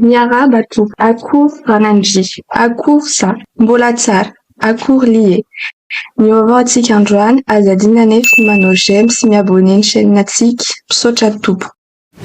Miarahaba tompoko, akory ranandria, akory za, mbola tsara, akory lie, mivaovao antsika androany, aza adino anefa ny manao j'aime sy mi abonner ny chaîne antsika, misaotra tompoko.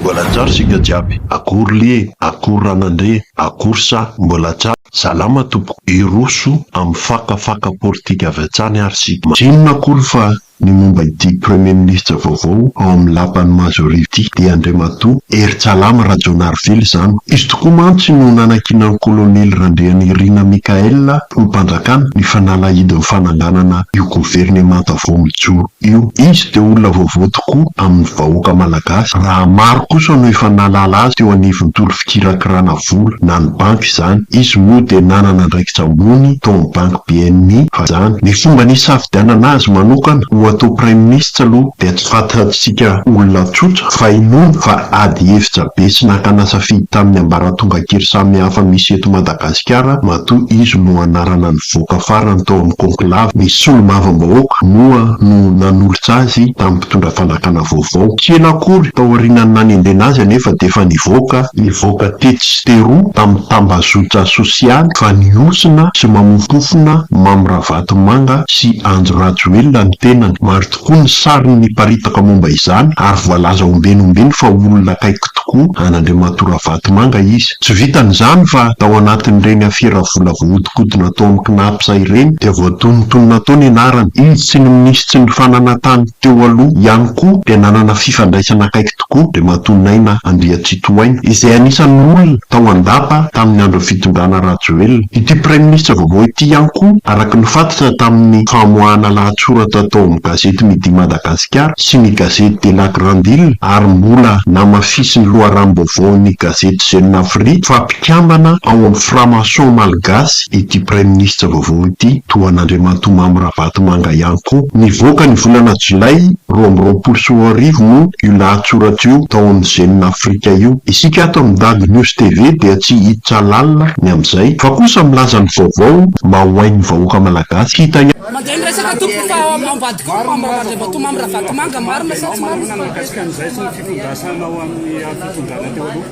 Mbola tsara isika jiaby. Akory lie, akory ranandria, akory sa mbola tsara? Salama tompoko, hiroso amin'ny faka faka politika avy hatsany ary isika. Tsy inona akory fa ny momba ity premier ministre vaovao ao amin'ny lapan'ny majority ity dia Andriamatoa Heritsalama Rajaonarivelo izany. Izy tokoa mantsy no nanankinan'ny kolonely Randrianirina Michaël ho mpanjakana ny fanalahidin'ny fananganana io governemanta vao mijoro. Io izy dia olona vaovao tokoa amin'ny vahoaka malagasy raha maro kosa no efa nahalala azy teo anivon'ny tory fikirakirana vola na ny banky izany. Izy moa dia nanana andraikitra ambony tao amin'ny banky bni fa izany. Ny fomba nisafidianana azy manokana ho atao praiminisitra aloha dia tsy fantatsika olona tsotra fa inoana fa ady hevitra be sy nakana safidy tamin'ny ambaratonga kely samihafa misy eto Madagasikara. Gasikara matoa izy no anarana nivoaka farany tao amin'ny conclave, ny solombavambahoaka moa no nanolotra azy tamin'ny mpitondra fanjakana vaovao. Tsy ela akory taorianan'ny nanendrena azy anefa dia efa nivoaka, nivoaka tetsy sy teroa tamin'ny tambazotra sosialy fa nihosina sy mamompofona Mamy Ravatomanga sy Andry Rajoelina ny tenany. Maro tokoa ny sary niparitaka momba izany ary voalaza ombieny ombieny fa olona akaiky tokoa an'Andriamatoa Ravatomanga izy. Tsy vitan'izany fa tao anatin'ireny afera vola voahodinkodina tao amin'ny Cnaps ireny dia voatonontonona tao ny anarany. Izy sy ny minisitry ny fananantany teo aloha ihany koa dia nanana fifandraisana akaiky tokoa Andriamatoa Naina Andriatsitohaina izay anisan'ny olona tao an-dapa tamin'ny andron'ny fitondrana Rajoelina. Ity praiminisitra vaovao ity ihany koa araka ny fantatra tamin'ny famoahana lahatsoratra tao amin'ny gazety Midi Madagascar, Madagasikara sy ny gazety de la grande ile ary mbola namafisin'ny loharanom-baovaon'ny gazety Jeune Afrique fa mpikambana ao amin'ny franc-maçon malgasy ity praiminisitra vaovao ity toa an'Andriamatoa Mamy Ravatomanga ihany koa. Nivoaka ny volana jolay roa amby roapolo sy roa arivo moa io lahatsoratra io tao amin'ny Jeune Afrique io. Isika ato amin'ny Dago News TV dia tsy hiditra lalina ny amin'izay fa kosa milaza ny vaovao mba ho hain'ny vahoaka malagasy hita ihany. Mandray ny resaka tompoko fa ao ambadikao ny membre Andriambatomamy Ravatomanga, marina sa tsy marina? Ahoana no mikasika an'izay sy ny fitondrasana ao amin'ny fitondrana teo aloha?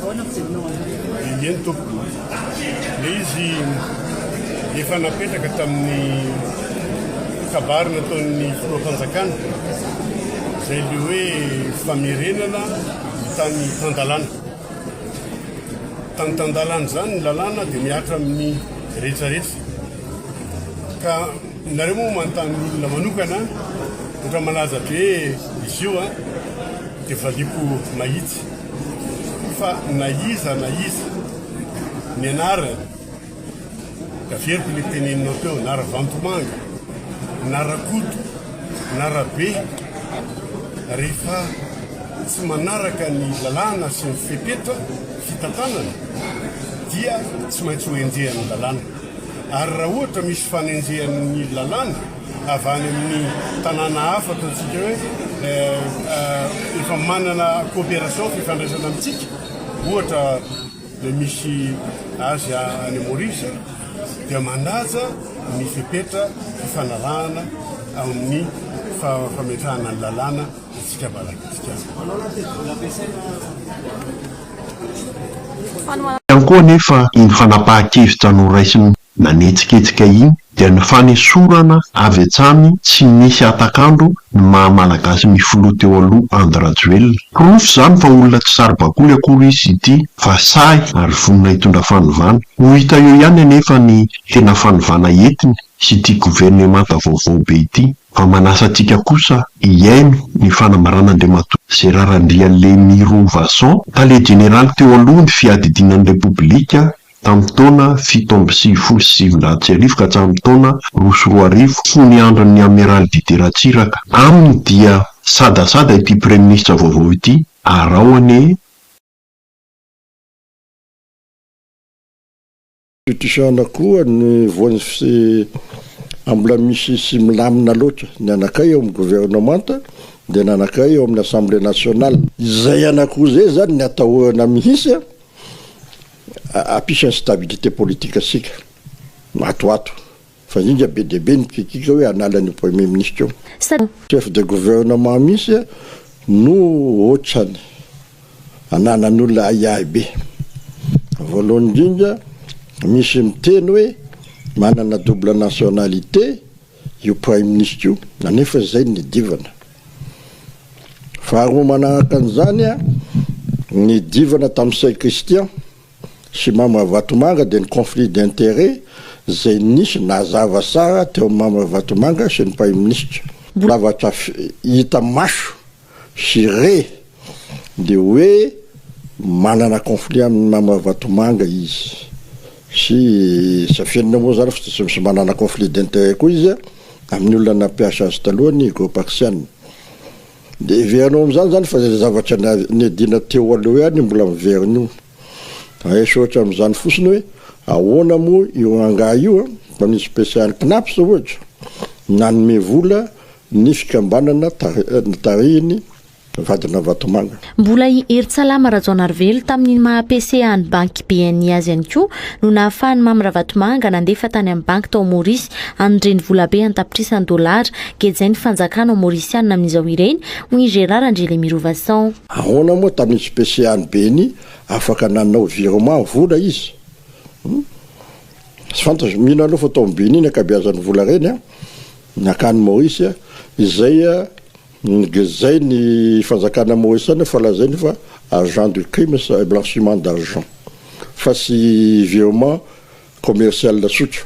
Ahoana ny fijerinao azy? Didier tompoko, ilay izy efa napetraka tamin'ny kabary nataon'ny filoha fanjakana izay ilay hoe famerenana ny tany tan-dalàna. Mitantandalan'izany ny lalàna dia mihatra amin'ny rehetrarehetra. Ka nareo moa manontany ny olona manokana, ohatra malaza be izy io an, dia valiako mahitsy fa na iza na iza nianarany, Tafieriko le teneninao teo na ravantomanga na rakoto na rabe rehefa tsy manaraka ny lalàna sy ny fepetra fitantanana dia tsy maintsy ho enjehan'ny lalàna ary raha ohatra misy fanenjehan'ny lalàna avy any amin'ny tanàna hafa ataontsika hoe efa manana coopération fifandraisana amintsika ohatra dia misy azy any Maurice dia mandaja ny fepetra fifanarahana amin'ny fametrahana ny lalàna antsika Malagasy. Ihany koa anefa ny fanapahan-kevitra noraisin'ny nanetsiketsika iny dia ny fanesorana avy hatrany tsy nisy hatak'andro ny maha Malagasy ny filoha teo aloha Andry Rajoelina. Porofo izany fa olona tsy saribakoly akory izy ity fa sahy ary vonona hitondra fanovana. Ho hita eo ihany anefa ny tena fanovana entiny sy ity governemanta vaovao be ity fa manasa antsika kosa hihaino ny fanambaran'Andriamatoa Gérard Andrialemirovason, tale jeneraly teo aloha ny fiadidiana ny Repoblika Tamin'ny taona fito amby sivifolo sy sivinjato sy arivo ka hatramin'ny taona roa sy roa arivo, fony niandrin'ny Amiraly Didier Ratsiraka. Aminy dia sadasada ity praiminisitra vaovao ity, arao anie e! Beautician koa ny voan'ny fse a mbola misy sy milamina loatra ny anakay eo amin'ny gouvernement dia ny anakay eo amin'ny assemblée nationale. Izay anakoo izay zany ny atahorana mihitsy a! Apisany stabilité politique antsika matoato fa indrindra be dia be ny critique hoe hanala an'io premier ministre io. Sa. Chef de gouvernement mihitsy no otrany ananan'olona ahiahy be. Voalohany indrindra misy miteny hoe manana double nationalité. Io Praiminisitra io nanefa izay nidivana. Faharoa manaraka an'izany nidivana tamin'i Saint Christian sy Mamy Ravatomanga dia ny conflit d'intérêt izay nisy nazava tsara teo amin'i Mamy Ravatomanga sy ny Praiminisitra. Mbola zavatra hita maso sy re dia hoe manana conflit amin'i Mama Ravatomanga izy sy Safienina moa zany fa tsy manana conflit d'interet koa izy amin'ny olona nampiasa azy taloha ny Gopaxiana. Dia heverinao amin'izany zany fa izay zavatra niadiana teo aloha ihany mbola miverina io. Aish ohatra amin'izany fotsiny hoe ahoana moa io angaha io an, mpamily special Cnaps ohatra nanome vola ny fikambanana tarihiny vadina Vatomanga. Mbola i Heritsalama Rajaonarivelo tamin'ny maha PC an'ny banky BNI azy ihany koa no nahafahan'i Mamy Ravatomanga nandefa tany amin'ny banky tao Maorisy an'ny renivolabe an-tapitrisany dolara gejain'ny fanjakana maorisianina amin'izao ireny, hoy i Gérard Andrielemirovason. Ahoana moa tamin'itsy PCA ny Beni afaka nanao virement vola izy hum tsy fantatro mino aloha fa tao am Beni ny ankabeazan'ny vola ireny an nankany Maorisy an izay an ngezain ny fanjakana Maorisana fa lazainy fa agent du crimes et blanchiment d'argent fa tsy virement commercial tsotra.